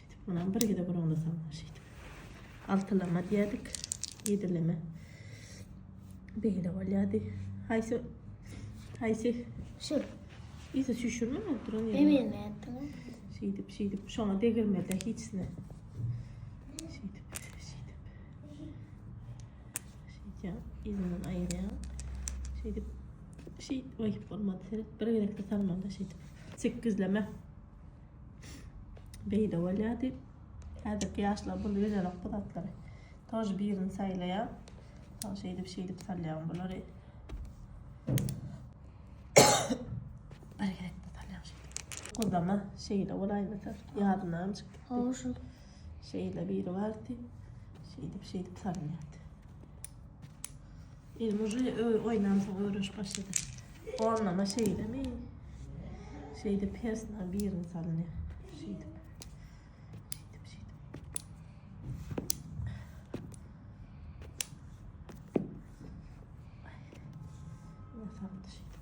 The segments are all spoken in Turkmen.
Şeýdip munam bir gezek uruňlasaň şeýdip. Altylama diýerdik. Ýedileme. Beýle bolýardy. Haýsy haýsy şu ýüzi çüşürme oturan ýerine. Hemen nätdim. Şeýdip şeýdip şoňa degirmede hiçne. Şeýdip şeýdip. Şeýdip ýerinden aýyrýan. Şeýdip şeýdip oýup bolmady. Seret bir gezekde salmanda şeýdip. Sekizleme. Beýde bolýa diýip. Häzirki ýaşlar bul bilenok bu zatlary. Tor birini saýlaýar. Soň şeýdip şeýdip salýar bulary. Bergerek bu salýar şeýdip. Gozama şeýle bolaýmasa ýadyna mı çykyp gitdi. Şeýle biri bardy. Şeýdip şeýdip salýardy. Elim uje oýnamsoň öwrenşip başlady. Gonlama şeýdemi? Şeýdip persna birini salyn. Şeýdip. Şeýdip şeýdip. Nasam şeýdip.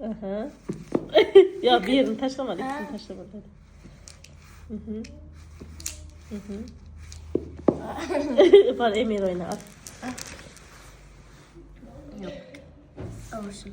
Aha. ya bir yerini taşlama, ikisini taşlama dedi. Hı hı. Hı hı. Bana Emir oyna at. Yok. Olsun.